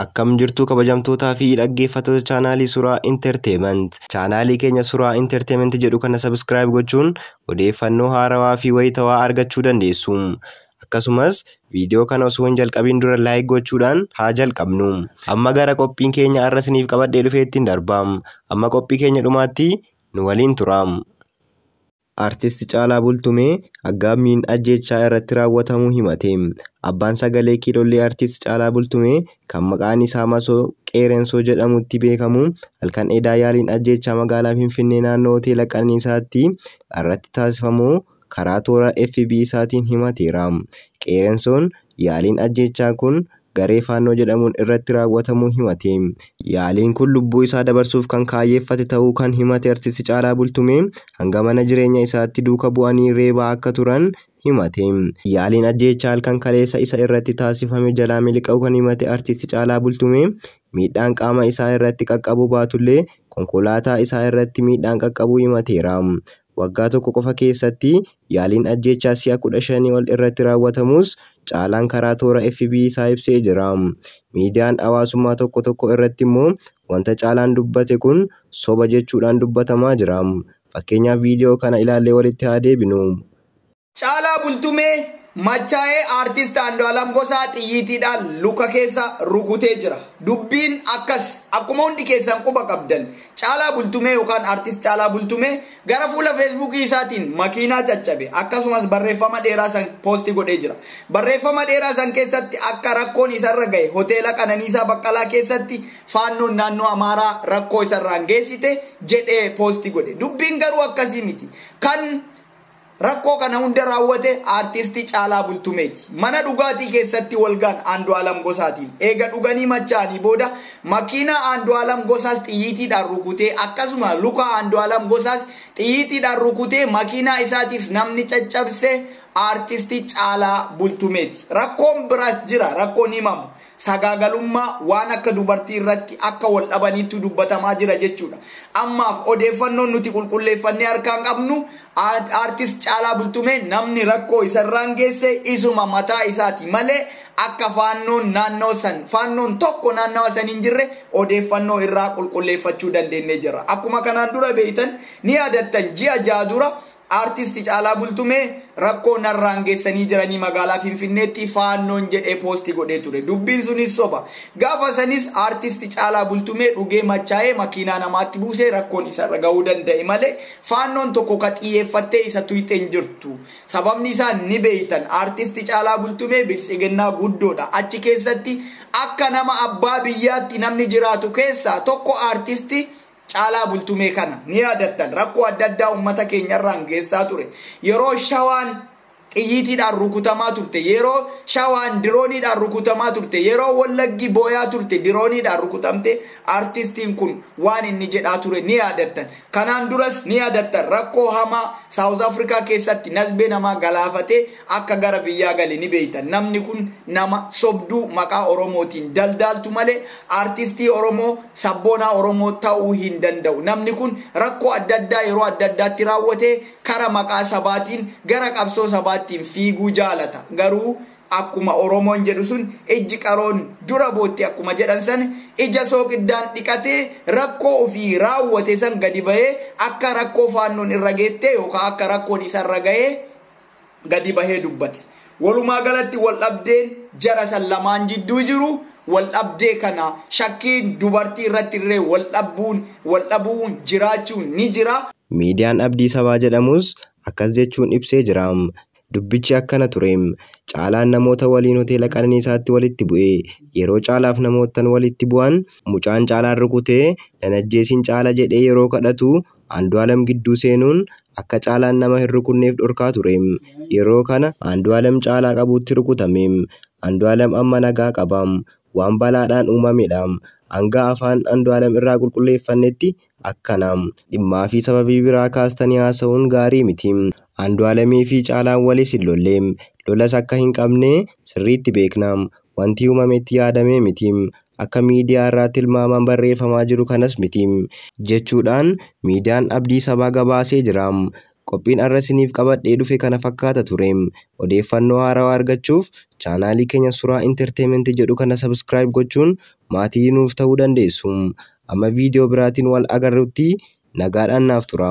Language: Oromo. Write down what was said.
Akkam jirtu kabajamtootaa fi dhaggeeffattoota chaanaalii Suraa Entertainment. Chaanaalii keenya Suraa Entertainment jedhu kana subscribe gochuun odeeffannoo haarawaa fi wayitawaa argachuu dandeessu. Akkasumas viidiyoo kana osoo hin jalqabin dura like gochuudhaan haa jalqabnu. Amma gara qophiin keenya har'a isiniif qabadhee dhufeettiin darbaam. Amma qophii keenya dhumaatti nu waliin turaam. Artist Caalaa Bultumee aggaammiin ajjeechaa irratti raawwatamuu himate. Abbaan sagalee kiilollii Artist Caalaa Bultumee kan maqaan isaa Masoo Qeerensoo jedhamutti beekamu halkan edaa yaaliin ajjeechaa magaalaa Finfinnee naannoo Hoteela Qananiisaatti irratti taasifamuu karaa toora FB isaatiin himateera. Qeerensoon yaaliin ajjeechaa kun garee Faannoo jedhamuun irratti raawwatamuu himate. Yaaliin kun lubbuu isaa dabarsuuf kan kaayyeeffate ta'uu kan himate Artisti Caalaa Bultumee, hanga mana jireenya isaatti duuka bu'anii reebaa akka turan himate. Yaaliin ajjeechaa halkan kaleessa isa irratti taasifame jalaa miliqa'uu kan himate Artisti Caalaa Bultumee, miidhaan qaama isaa irratti qaqqabuu baatullee konkolaataa isaa irratti miidhaan qaqqabuu himateera. Waggaa tokko qofa keessatti yaaliin ajjeechaa si'a 15 ol irratti raawwatamuus Caalaan karaa toora FB isaa ibsee jira. Miidiyaan hawaasummaa tokko tokko irratti immoo wanta Caalaan dubbate kun soba jechuudhaan dubbatamaa jira. Fakkeenyaaf viidiyoo kana ilaallee walitti haa deebinu. Caalaa Bultumee machaa'ee Aartist Andu'aalam Gosaa xiyyiitiidhaan luka keessa rukutee jira. Dubbiin akkas. Akkuma hundi keessan quba qabdan Caalaa Bultumee yookaan Aartist Caalaa Bultumee gara fuula Feesbuukii isaatiin makiinaa caccabe akkasumas barreeffama dheeraa san poosti godhee jira. Barreeffama dheeraa san keessatti akka rakkoon isarra gahe hoteela Qananiisaa Baqqalaa keessatti faannoon naannoo Amaaraa rakkoo isarraan geessite jedhee poosti godhe. Dubbiin garuu akkasii miti. Kan Rakkoo kana hunda raawwate Aartisti Caalaa Bultumeeti. Mana dhugaatii keessatti walgaan Aandu'aalam Gosaatiin eega dhuganii machaa'anii booda makiinaa Aandu'aalam Gosaas xiyyiitiidhaan rukutee akkasuma luka Aandu'aalam Gosaas xiyyiitiidhaan rukutee makiinaa isaatiis namni caccabse Aartisti Caalaa Bultumeeti. Rakkoon biraas jira rakkoon himamu. sagaagalummaa waan akka dubartii irratti akka wal dhabaniittu dubbatamaa jira jechuudha. Ammaaf odeeffannoon nuti qulqulleeffannee harkaan qabnu aartist Caalaa Bultumee namni rakkoo isarraan geesse isuma mataa isaati malee akka faannoon naannoo san faannoon tokko naannawa san hin jirre odeeffannoo irraa qulqulleeffachuu dandeennee jirra. Akkuma kanaan dura beektan ni yaadattan ji'a ja'a dura Artist Caalaa Bultumee rakkoo narraan geessanii jiranii magaalaa Finfinneetti faannoon jedhee poosti godhee ture. Dubbiin sunis soba. Gaafa sanis Artist Caalaa Bultumee dhugee machaa'ee makiinaa namaatti buusee rakkoon isarra gahuu danda'e malee faannoon tokko ka xiyyeeffattee isa tuyxe hin jirtu. Sababni isaa ni beektan Artist Caalaa Bultumee Biltsiginnaa guddoodha. Achi keessatti akka nama abbaa biyyaatti namni jiraatu keessaa tokko Artist Caalaa Bultumee kana ni yaadattan rakkoo adda addaa uummata keenya irraan geessaa ture. Yeroo shawaan xiyyiitiidhaan rukutamaa turte, yeroo shawaan dirooniidhaan rukutamaa turte, yeroo wallaggi booyaa turte dirooniidhaan rukutamte artistiin kun waan inni jedhaa ture ni yaadattan. Kanaan duras ni yaadattan rakkoo hamaa Saawuz Afrikaa keessatti nasbee namaa galaafatee akka gara biyyaa gale ni beeytan namni kun nama sobduu maqaa oromootiin daldaaltu malee artistii oromoo sabboonaa oromoo ta'uu hin danda'u namni kun rakkoo adda addaa yeroo adda addaatti raawwatee kara maqaa sabaatiin gara qabsoo sabaattiin fiiguu jaalata garuu akkuma oromoon jedhu sun ijji qaroon dura bootti akkuma jedhan san ija sooqiddaan dhiqatee rakkoo ofii raawwate san gadi bahee akka rakkoo faannoon irra geettee yookaan akka rakkoon isa irra gahee gadi bahee dubbate. Walumaa galatti waldhabdeen jara san lamaan jidduu jiru waldhabdee kana shakkiin dubartii irratti illee waldhabbuun waldhabuun jiraachuun ni jira. Miidiyaan Abdii Sabaa jedhamus akkas jechuun ibsee jira. Dubbichi akkana ture. Caalaan namoota waliin hoteela Qananiisaatti walitti bu'e. Yeroo Caalaaf namoottan walitti bu'an mucaan Caalaan rukutee nan ajjeesiin Caala jedhee yeroo kadhatu Andu'aalem gidduu seenuun akka Caalaan nama hin rukunneef dhorkaa ture. Yeroo kana Andu'aalem Caalaa qabuutti rukutame. Andu'aalem amma nagaa qaba. Waan balaadhaan uumamedha. Hanga afaan Andu'aalem irraa qulqulleeffannetti akkana. Dhimmaa fi sababii biraa kaastanii haasa'uun gaarii miti. Andu'aalemii fi Caalaan walis hin lolle. Lolas akka hin qabne sirriitti beekna. Wanti uumame itti yaadamee miti. akka miidiyaa irraa tilmaamaan barreeffamaa jiru kanas miti jechuudhaan miidiyaan Abdii Sabaa gabaasee jira. Qophiin arra isiniif qabadhee dhufe kana fakkaata ture. Odeeffannoo haarawaa argachuuf chaanaalii keenya Suraa Entertainment jedhu kana subscribe gochuun maatii nuuf ta'uu dandeessu. Amma viidiyoo biraatiin wal agarrutti nagaadhaan naaf tura.